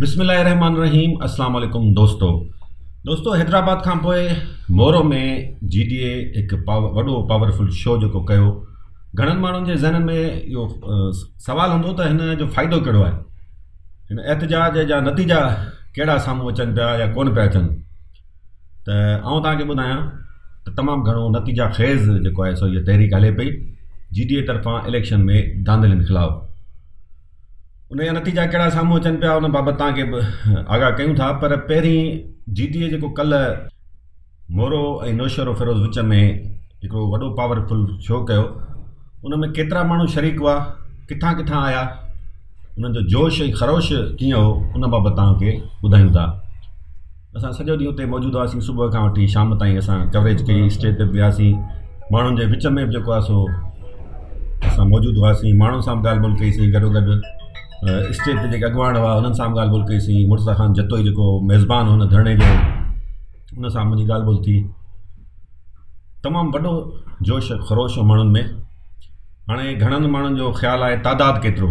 بسم الله الرحمٰن الرحيم اسلام عليڪم دوستو دوستو حيدرآباد کان پوء مورو ۾ جي ڊي اي هڪ وڏو پاورفل شو جيڪو ڪيو گهڻن ماڻهن جي ذهنن ۾ اهو سوال هوندو ته هن جو فائدو ڪهڙو آهي هن احتجاج جا نتيجا ڪهڙا سامهون اچن پيا يا ڪون پيا اچن ته آئون توهان کي ٻڌايان ته تمام گهڻو نتيجا خيز جيڪو آهي سو هي تحريڪ هلي پئي جي ڊي اي طرفان اليڪشن ۾ دانلين خلاف ان جا نتيجا ڪهڙا سامهون اچن پيا ان بابت توهان کي به آگاهه ڪيون ٿا پر پهرين جي ٽي اي جيڪو ڪلهه مورو ۽ نوشهرو فيروز وچ ۾ هڪڙو وڏو پاور فل شو ڪيو ان ۾ ڪيترا ماڻهو شريڪ هئا ڪٿان ڪٿان آيا انهن جو جوش ۽ خروش ڪيئن هو ان بابت توهان کي ٻڌايون ٿا اسان سڄو ڏينهن اتي موجود هئاسين صبح کان وٺي شام تائين اسان ڪوريج ڪئي اسٽيج تي به وياسين ماڻهن جي وچ ۾ به جيڪو آهي سو اسان موجود هئاسين ماڻهن سان به ڳالهه ٻولهه ڪئيسين گڏو گڏ اسٽيج تي جيڪي اڳواڻ هئا انهن سان ڳالهه ٻولهه ڪئيسين مرزا خان جتوئي جيڪو ميزبان هن ڌرڻي جو ان سان منهنجي ڳالهه ٻولهه ٿي تمام وڏو جوش خروش هو ماڻهن ۾ هاڻي گهڻن ماڻهن جو خيال آهي تعداد ڪيترو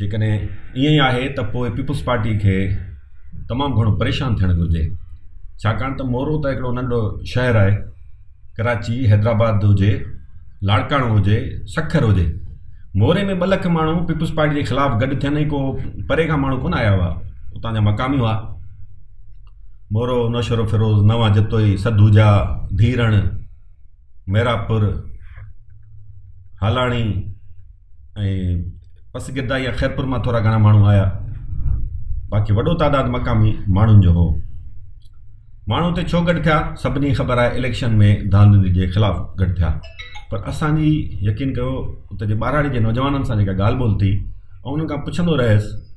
جيڪڏهن ائين ئي آهي ته پوء پيپلز پارٽي کي تمام گهڻو پريشان ٿيڻ گهرجي ڇاڪاڻ ته مورو ته هڪڙو ننڍو شهر آهي ڪراچي حيدرآباد هجي لاڙڪاڻو هجي سکر هجي موري ۾ ٻه لک ماڻهو پيپلز پارٽي جي خلاف گڏ ٿين ۽ ڪو پري کان ماڻهو ڪونه آيا هئا اتان جا مقامي هئا مورو نوشهرو فيروز نوان جتوئي سدوجا ڌيرڻ ميراپور هالاڻي ۽ پس گردا يا خيرپور مان ٿورا گهڻا ماڻهو آيا باقي وڏو تعداد مقامي ماڻهن جو هو ماڻهو اتي ڇو گڏ ٿيا سڀني خبر آهي اليڪشن ۾ ڌانڌلي جي خلاف گڏ ٿيا پر اسان جي يقين ڪيو اتي جي ٻاراڙي جي نوجوانن سان جيڪا ڳالهه ٻولهه ٿي ۽ انهن کان پڇندو رهيس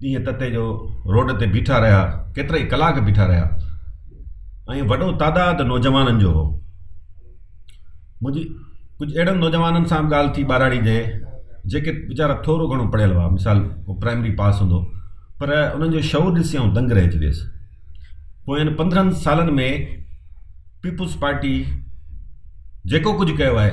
ڏينهن تتي جو روڊ تي بيٺا رهيا، ڪيترائي ڪلاڪ بيٺا رهيا ۽ وڏو تعداد نوجوانن جو هو. منهنجي ڪجهه اهڙن نوجوانن سان به ڳالهه ٿي ٻاراڙي جي، جيڪي ويچارا ٿورو گهڻو پڙهيل هئا، مثال ڪو پرائمري پاس هوندو، پر انهن جو شعور ڏسي آئون دنگ رهجي ويس. پوين پندرهن سالن ۾ پيپلز پارٽي جيڪو ڪجهه ڪيو آهي،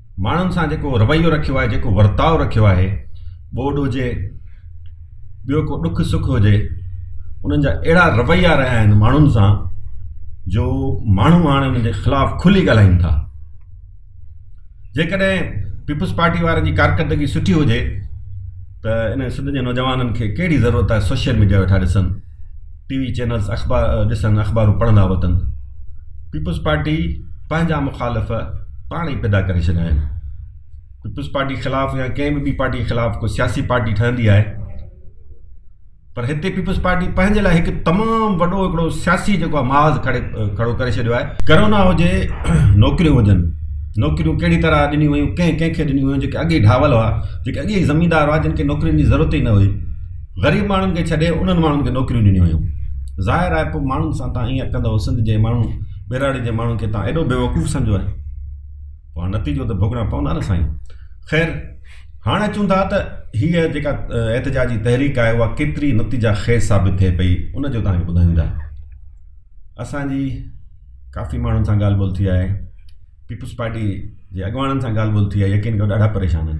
ماڻهن سان جيڪو رويو رکيو آهي جيڪو ورتاء رکيو آهي ٻوڏ هجي ٻيو ڪو ڏک سک هجي انهن جا اهڙا رويا رهيا آهن ماڻهن سان جو ماڻهو هاڻي انهن جي خلاف کلي ڳالهائين ٿا جيڪڏهن پيپلز پارٽي وارن جي ڪارڪردگي سٺي هجي ته ان سنڌ جي نوجوانن کي ڪهڙي ضرورت آهي سوشل ميڊيا ويٺا ڏسن ٽي وي چينلز اخبار ڏسن اخبارون پڙهندا وتن پيپلز پارٽي پنهنجا مخالف پاڻ ئي پيدا ڪري ڇڏيا آهن پيپلز پارٽي خلاف يا ڪنهن به ٻي پارٽي خلاف ڪو سياسي پارٽي ٺهندي آهي پر هتي پيپلز پارٽي پنهنجي لاء هڪ تمام وڏو هڪڙو سياسي جيڪو آهي محاذ کڙي کڙو ڪري ڇڏيو آهي ڪرونا هجي نوڪريون هجن نوڪريون ڪهڙي طرح ڏنيون ويون ڪنهن ڪنهن کي ڏنيون ويون جيڪي اڳي ڍاول هئا جيڪي اڳي زميندار هئا جن کي نوڪرين جي ضرورت ئي نه هئي غريب ماڻهن کي ڇڏي انهن ماڻهن کي نوڪريون ڏنيون ويون. ظاهر آهي پوء ماڻهن سان تان ائين ڪندؤ سنڌ جي ماڻهن ٻهراڙي جي ماڻهن کي تان ايڏو بيوقوف سمجهيو آهي. پوء هاڻ نتيجو ته ڀوڳڻا پوندا نه سائين. خير هاڻ اچون ٿا ته هيء جيڪا احتجاجي تحريڪ آهي اها ڪيتري نتيجا خيز ثابت ٿئي پئي ان جو توهان کي ٻڌايون ٿا. اسان جي ڪافي ماڻهن سان ڳالهه ٻولهه ٿي آهي. پيپلز پارٽي جي اڳواڻن سان ڳالهه ٻولهه ٿي آهي يقين ڪيو ڏاڍا پريشان آهن.